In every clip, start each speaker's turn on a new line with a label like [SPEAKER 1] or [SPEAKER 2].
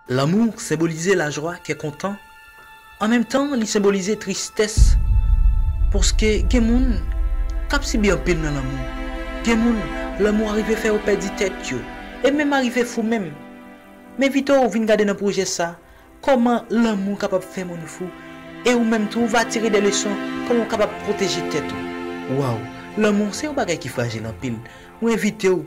[SPEAKER 1] Lanmou senbolize lajwa, kè kontan, an menm tan li senbolize tristès paske gen moun k ap sibi anpil nan lanmou, gen moun lanmou arive fè yo pèdi tèt yo e menm arive fou menm. M envite w vin gade nan pwojè sa kòman lanmou kapab fè moun fou e ou menm tou ou va tire de leson kòman ou kapab pwoteje tèt ou. Waww lanmou se yon bagay ki frajil anpil, mwen envite w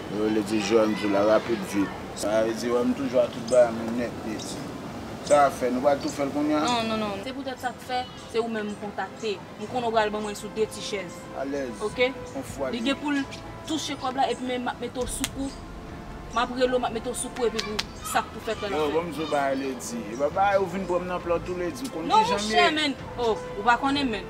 [SPEAKER 2] Yo rele di jwè m tou
[SPEAKER 3] la rapid vit. Sa vle di wè m tou jwa tout bagay mwen nèt mesi. Sa ap fè? Nou pral tou fè l kounya? Non, non, non. Se poutèt sa k
[SPEAKER 2] fè se ou menm m kontakte. M konnen ou pral ban mwen sou 2 ti chèz. Alèz. Ok?
[SPEAKER 3] Konfwa li.
[SPEAKER 2] Li gen pou l touche kòb la epi men m ap mete w sou kou. M ap rele w m ap mete w sou kou epi pou sa k pou fèt la l ap fèt. Yo, ban m di w bagay ledi.
[SPEAKER 3] E pa bagay ou vin pran m nan plan tou ledi. Ou konn kijan m ye? Non monchè men.
[SPEAKER 2] Oh, ou pa konnen men.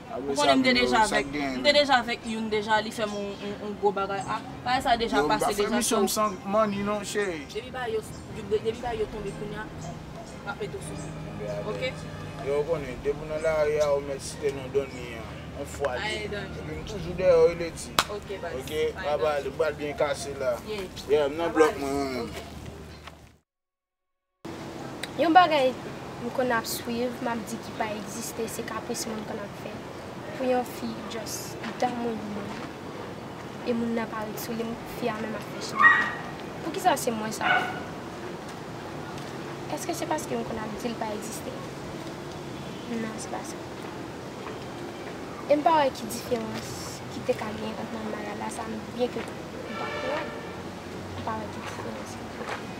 [SPEAKER 2] Ou konnen m te deja avèk m te deja avèk youn deja li fèm yon gwo bagay ah bagay sa deja pase deja so Depi bagay
[SPEAKER 3] yo depi bagay
[SPEAKER 2] yo tonbe kounya map mete w sou menw ok. Yo ou konnen
[SPEAKER 3] depi w nan lari a ou mèt site non Donny an on fwa li Ae Donny Epi m toujou dèyè w wi Lety Ok baz Ok Ae
[SPEAKER 2] Donny Mwen pral
[SPEAKER 3] byen kase la Yeah m nan blòk mwen ok.
[SPEAKER 4] Yon bagay m konn ap swiv map di ki pa egziste se kapris moun konn ap fè pou yon fi jòs damou yon moun e moun nan pa ret sou li fi a menm ap fè chin ak li poukisa se mwen sa ap fè eske se paske m konn ap di l pa egziste nan se pa sa e m pa wè ki diferans ki te ka gen ant manmaya la sa m byen ke m pa kwè m pa wè ki diferans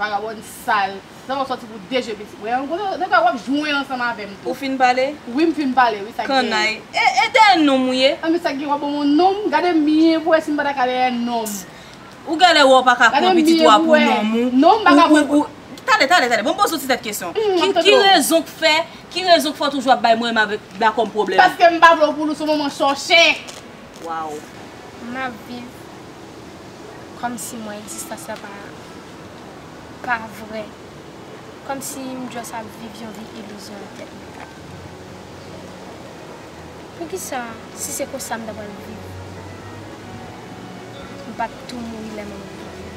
[SPEAKER 5] Vagabond sal sa wap sòti pou de je pitit mwen an gwo nèga wap jwen ansanm avèm tou. Ou fin pale?
[SPEAKER 2] Wi
[SPEAKER 5] m
[SPEAKER 2] fin pale wi
[SPEAKER 5] sak gen. Kannay e
[SPEAKER 2] dèyè nonm ou ye. Anmey sak gen wap banm yon
[SPEAKER 5] nonm gade m byen pou wè si m pata ka dèyè nonm. Ou galè
[SPEAKER 2] wè ou paka pran pitit ou a pou nonm ou. Non m paka pran pou.
[SPEAKER 5] Tande
[SPEAKER 2] tande tande banm poze w ti tèt kesyon ki rezon k fè ki rezon k fè w toujou ap bay mwen m avèk la kòm pwoblèm. Paskem pa vle w pou Lous
[SPEAKER 5] ou manman chòche. Waww.
[SPEAKER 2] Map viv
[SPEAKER 4] komsi mwen existence la pa pa vrè komsi m just ap viv yon vi illusion nan tèt mwen poukisa si se konsa m ta pral viv m pat tou mouri lè manman m tap viv.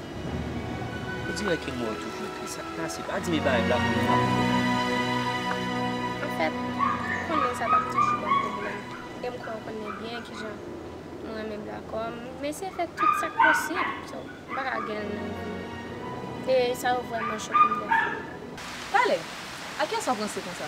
[SPEAKER 6] Ou di wè ke mwen toujou ekri sa k pase. Pa di m e pa rèv la pou m frape w. Anfèt,
[SPEAKER 4] ou konnen sa pa p toujou ban m pwoblèm e m kwè ou konnen byen kijan m renmen bla kò m. M eseye fè tout sa k posib. So, m pa ka gen l nan vi m. E
[SPEAKER 2] sa yo
[SPEAKER 4] vrèman
[SPEAKER 2] choke m
[SPEAKER 4] dèfwa. Pale! A
[SPEAKER 2] kiyès w ap ranse
[SPEAKER 4] konsa?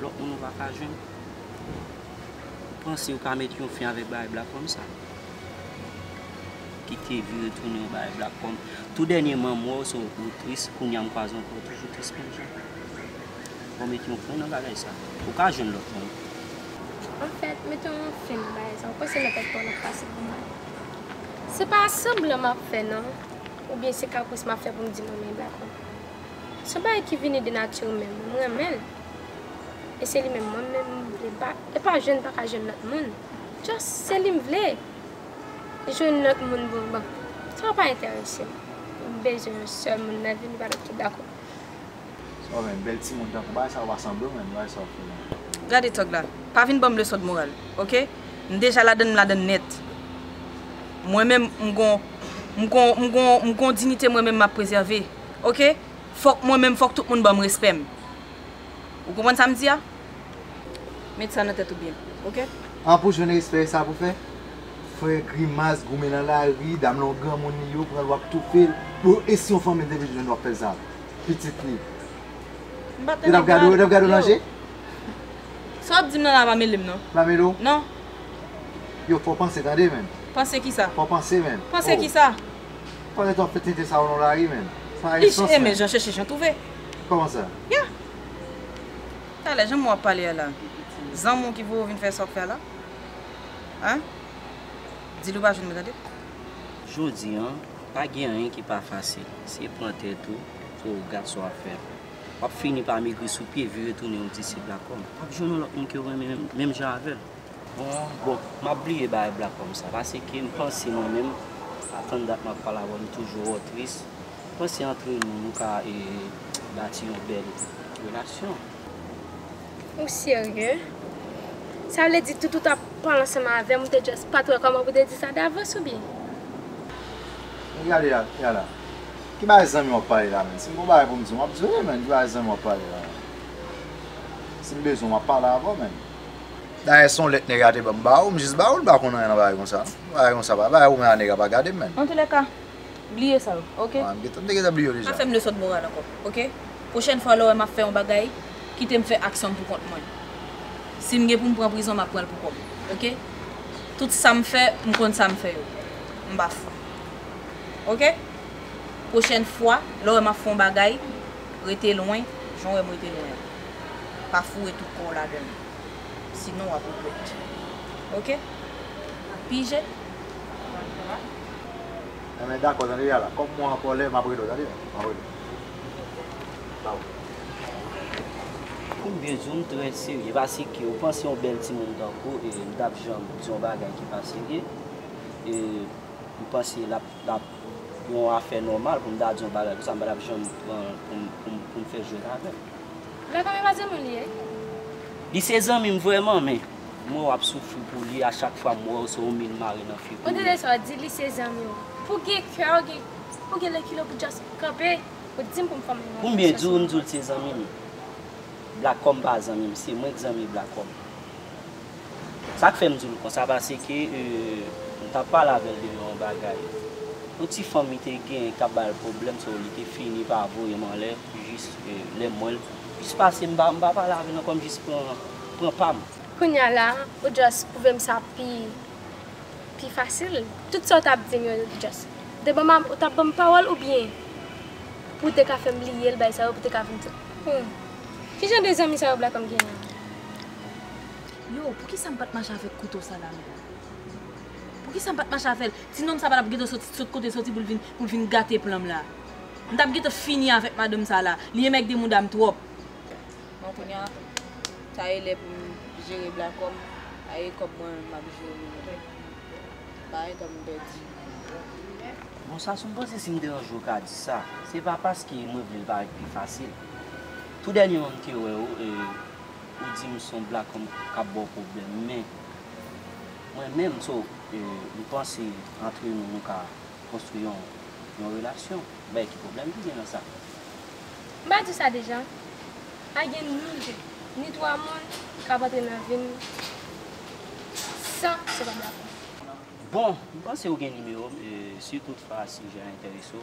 [SPEAKER 6] Lòt moun ou pa ka jwenn. Ou panse ou ka met yon fen avèk bagay blak kòm sa? Kite vire tounen yon bagay blak kòm. Tou dènye man m wè w se w ou tris, kounya m kwaze w ankò ou toujou tris menm jan. Fò w met yon fen nan bagay sa. Ou ka jwenn lòt moun. Anfèt,
[SPEAKER 4] mete yon fen nan bagay sa. Ou panse lòt ak pa w nan pase pou mwen? Se pa sanblan m ap fè non. Oubyen se kapris m ap fè pou m di mwen renmen blak kòm. Se yon bagay ki vini de nati ou menm. M renmen l. E se li menm mwen menm m vle m pa e pa jwenn pa ka jwenn lòt moun just se li m vle jwenn lòt moun pou bon sa pa enterese m m bezwen yon sèl moun nan vi m pa mèt tou dakò. Sa
[SPEAKER 7] w menm bèl timoun tankou bagay sa yo pa sanble w menm bagay sa w fè la. Gade tòg la.
[SPEAKER 2] Pa vin banm leson d'moral ok. M deja ladann m ladann nèt. Mwen menm m gon m gon m gon m gon dinite mwen menm map prezève ok. Fòk mwen menm fòk tout moun banm respèm ou konprann sam di a met sa nan tèt ou byen ok. An pou jwenn
[SPEAKER 7] respè esa pou fè fè grimas goumen nan lari dam lan yon granmoun li yo pranl wap toufel bon e si yon fanmil te vin jwenn wap fèl sa pitit li yo tap gade w yo tap gade w nan je.
[SPEAKER 2] Sa wap dim nan la pa mele m nan. Pa mele w? Non.
[SPEAKER 7] Yo fò panse tande menn. Panse kisa? Fò
[SPEAKER 2] panse menn. Panse
[SPEAKER 7] kisa?
[SPEAKER 2] Kote twa fè
[SPEAKER 7] tenten sa yo nan lari menm? Sa pa gen sens menm. Ish renmen jan
[SPEAKER 2] chèche jan twouve.
[SPEAKER 7] Kòman
[SPEAKER 2] sa? Yeah! Talè janm wè wap pale a la. Zanmi w ki voye w vin fè sa w fè a la? Hein? Di li w pa jwenn mwen tande. Jodi
[SPEAKER 6] an, pa gen anyen ki pa fasil. Se pran tèt ou pou w gad sa wap fè. Wap fini pa megri sou pye, vire tounen yon disip lakom. Wap jwenn yon lòt moun ke w renmen menm jan avè l. Bon map bliye bagay black kom sa pase ke m panse mwen menm atan dat map pale avèw m toujou wèw tris m panse antre nou nou ka bati yon bèl relasyon.
[SPEAKER 4] Ou serye? Sa vle di tout ou tap pran ansanm avèm ou te just pat wè koman pou te di sa davans ou byen? Men gade
[SPEAKER 7] Lala ki bagay zanmi wap pale la menn si m gon bagay pou m diw map diw e menn ki bagay zanmi wap pale la menn si m bezwen w map pale avèw menn. Dayè son lèt nèg a te banm ba ou, m jis ba ou, m pa konn anyen nan bagay konsa non. Bagay konsa pa bay ou men a nèg a pa gade m menn. Antoulèka,
[SPEAKER 2] bliye sa yo, ok? Bon, m te gentan bliye yo deja.
[SPEAKER 7] Pa fè m le sòt moral ankò,
[SPEAKER 2] ok? Pwochèn fwa lè w wè m ap fè yon bagay, kite m fè aksyon m pou kont mwen. Si m gen pou m pran prizon, m ap pran l pou kò m, ok? Tout sa m fè, m konn sa m fè yo. M pa fou. Ok? Pwochèn fwa, lè w wè m ap fè yon bagay, rete lwen jan w wè m rete lwen an. pa foure tout kòw ladann sinon wap regrèt ok pije bòn travay.
[SPEAKER 7] Enben dakò tande ya la kòm mwen an kòlè map rele w tande map rele w
[SPEAKER 6] baww. Ou byen di w m trè serye pase ke ou panse yon bèl timoun tankou e m tap janm di yon bagay ki pa serye e m panse lap lap. yon afè nòmal pou m ta di yon bagay konsa m pa t ap janm pran pou m fè jwèt avè l. Men konbyen pa
[SPEAKER 4] zanmi w li ye? Li se
[SPEAKER 6] zanmi m vrèman men m wè w ap soufri pou li a chak fwa m wè w se yon min mare nan figi w. Mwen tande sa w di li se
[SPEAKER 4] zanmi w. Pou w gen kè ou gen pou w gen lekile pou w just kanpe pou w di m pou m fòme yon opinyon sou sa sèlman. Pou m byen di w m di w li
[SPEAKER 6] se zanmi m. Black Kòm pa zanmi m se mwen k zanmi Black Kòm. Sa k fè m di l konsa pase ke m t ap pale avè l de yon bagay. Yon ti fanm li te genyen k t ap ba l pwoblèm so li te fini pa voye m anlè jis lè m wè l jis pase m pa m pa pale avè l ankò m jis pran pran pa m. Kounya la
[SPEAKER 4] ou just pwouve m sa pi pi fasil. Tout sa w t ap di m yo just te ban m ou t ap ban m pawòl oubyen pou w te ka fè m bliye l bagay sa yo pou w te ka vin di m. Kijan de zanmi sa yo Black Home genyen an?
[SPEAKER 2] Yo, poukisa m pat mache avèk kouto sa nan men m? Poukisa m pat mache avè l? Ti nonm sa pa t ap gentan soti sot kote l soti pou l vin pou l vin gate plan m la. M t ap gentan fini avèk madanm sa la. Li enmègde mouda m twòp. Bon, kounye a, ta ye lè pou m jere blakò m. A ye kòb mwen menm m ap jere li menm. Bay kòm m pèdi.
[SPEAKER 6] Bon, sa sou m panse si m deranje w ka di sa. Se pa paske mwen vle l parèt pi fasil. Tou dènyèman m te wè w e. Ou di m son black m kap baw pwoblèm men mwen menm so m panse antre nou nou ka konstwi yon relasyon bèy ki pwoblèm ki gen nan sa. M pa
[SPEAKER 4] di sa deja? Pa gen ni 2 ni 3 moun kap antre nan vim san se pa black mwen. Bon
[SPEAKER 6] m panse ou gen nimewo m si tout fwa sijè a enterese w.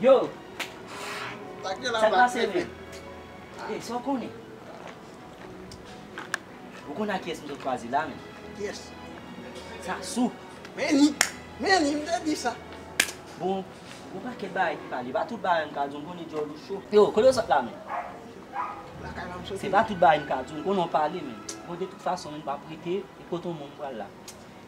[SPEAKER 6] Yo!
[SPEAKER 3] Sa k la pase menm?
[SPEAKER 6] Ey, sa w konnen? Ou konnen ak kiyès m sot chwazi la menm? Kiyès?
[SPEAKER 3] Sasou!
[SPEAKER 6] Men li!
[SPEAKER 3] Men li! M te di sa! Bon, gen
[SPEAKER 6] yon pakèt bagay ki pale. Pa tout bagay m ka di w. M konnen dyòl ou cho. Yo, kote w sot la menm? Lakay la m sot. Se pa tout bagay m ka di w. M konnen w pale menm. Bon, de tout fason menm m pa p rete. E kote w menm ou pral la?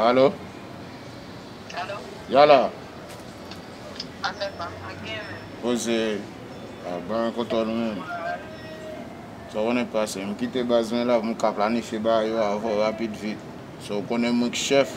[SPEAKER 3] Alo Yala Poze Ban koto nou menm Sa konnen k pase M kite baz mwen la pou m ka planifye bagay yo avan w rapid vit Sa w konnen mwen k chèf